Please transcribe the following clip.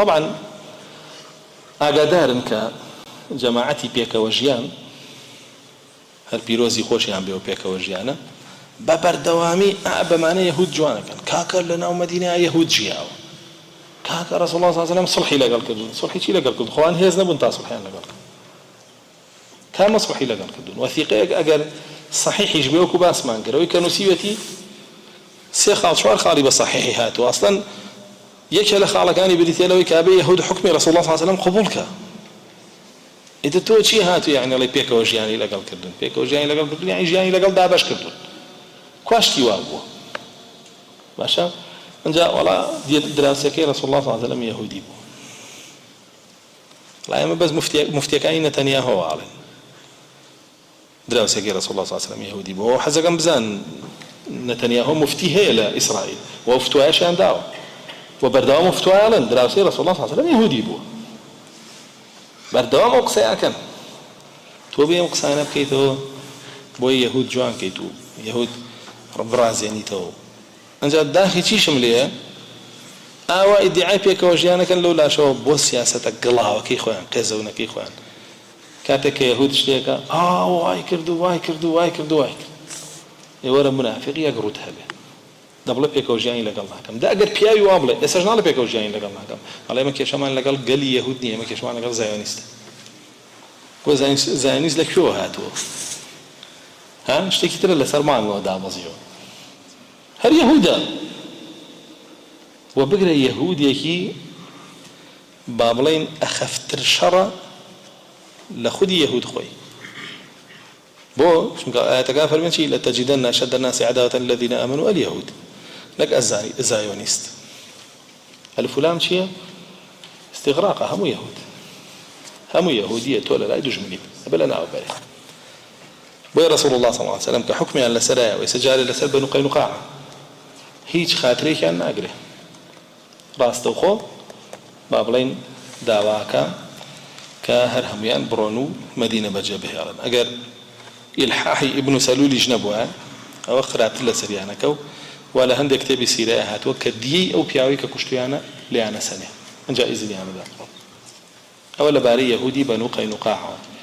تەبعەن ئاگادارن کە جەماعەتی پێکەوە ژیان، هەر پیرۆزی خۆشیان بێ و پێکەوە ژیانە، بە بەردەوامی ئا بەمانە یەهوود جوان ئەکەن، کاکە لە ناو مەدینەیا یەهوود ژیاوە، کاکە ڕەسووڵڵا صلی اللە علیە و سلم سوڵحی لەگەڵ کردوون، سوڵحی چی لەگەڵ کردوون، خۆ ئەوان هێز نەبوون تا سوڵحیان لەگەڵ کەن. تا مەسوحی لەگەڵ کردوون وەثیقەیەک ئەگەر صحیحیش بێ وەکو باسمان کرد ئەوەی کە نوسیوێتی سێ خاڵ چوار خاڵی بە صحیحی هاتووە ئەسڵەن یەکێ لە خاڵەکانی بریتیە لەوەی کە ئەبێ یەهود حوکمی رسول اللە صلی اللە علیە وسلم قبوڵ کە ئیتر تۆ چی هاتووی یعنی ئەڵێی پێکەوە ژیانی لەگەڵ کردوون پێکەوە ژیانی لەگەڵ کردوون یعنی ژیانی لەگەڵ دابەش کردوون کواشتی وا بووە باشە ئەنجا وەڵا دراوسێکەی رسول اللە صلی اللە علیە وسلم یەهودی بوو وەڵا ئێمە بەس موفتیەکانی نەتەنیاهۆ ئاڵێن دراوسێکی رسول اللە صلی اللە علیە وسلم یەهودی بووە وە حەزەکەم بزان نەتەنیاهۆ موفتی هەیە لە ئیسرائیل وە ئەو فتوایەشیان داوە وە بەردەوام ئەو فتوایە ئەڵێن دراوسێی رسول اللە صلی اللە علیە وسلم یەهودی بووە بەردەوام ئەو قسەیە ئەکەن تۆ بێ ئەم قسانە بکەیتەوە بۆی یەهود جوان کەیت و یەهود ڕبڕازێنیتەوە ئەجا داخی چیشم لێیە ئاوا ئیدیعای پێکەوە ژیان ئەکەن لەو لاشەوە بۆ سیاسەتە گڵاوەکەی خۆیان قێزەونەکەی خۆیان کاتێک کە یەهود شتێکە ئا وای کرد و وای کرد و وای کرد و وای کرد ئێ وەرە منافق یەک ڕووت هەبێ دەبڵێ پێکەوە ژیانی لەگەڵ ناکەم دا ئەگەر پیاوی وا بڵێ ئێسەش ناڵێ پێکەوە ژیانی لەگەڵ ناکەم ئەڵێ ئێمە کێشەمان لەگەڵ گەلی یەهود نییە ئێمە کێشەمان لەگەڵ زایۆنیستە بۆ زایۆنیست لە کوێوە هاتووە ها شتێکی ترە لەسەر مانگەوە دابەزیوە هەر یەهودە و بگرە یەهودێکی با بڵێین ئەخەفتر شەڕە لە خودی یەهود خۆی بۆ؟ چونکە ئایەتەکان فەرموویان چی؟ لتجدن اشد الناس عداوة للذین آمنوا الیهود نەک الزایۆنیست الف و لام چیە؟ استغراقە هەموو یەهود هەموو یەهودیە تۆ لەلای دوژمنیت ئەبێ لە ناو بەرێ بۆیە رسول الله صلی الله عليه وسلم کە حکمیان لەسەرایە و ئێستا جارێ لەسەر بەنو قەینوقاعە هیچ خاترێکیان ناگرێ ڕاستەوخۆ با بڵێین داواکە کە هەر هەموویان بڕۆن و مەدینە بەجێ بهێڵن ئەگەر ئیلحاحی ئیبن سەلولیش نەبوایە ئەوە خراپتر لەسەریانەکە و وا لە هەندێ کتێبی سیرەیا هاتووە کە دییەی ئەو پیاوەی کە کوشتویانە لێیانەسەنێ ئەجا ئیزنیان بدەن بڕۆن ئەوە لەبارەی یەهودی بەنو قەینوقاعەوە.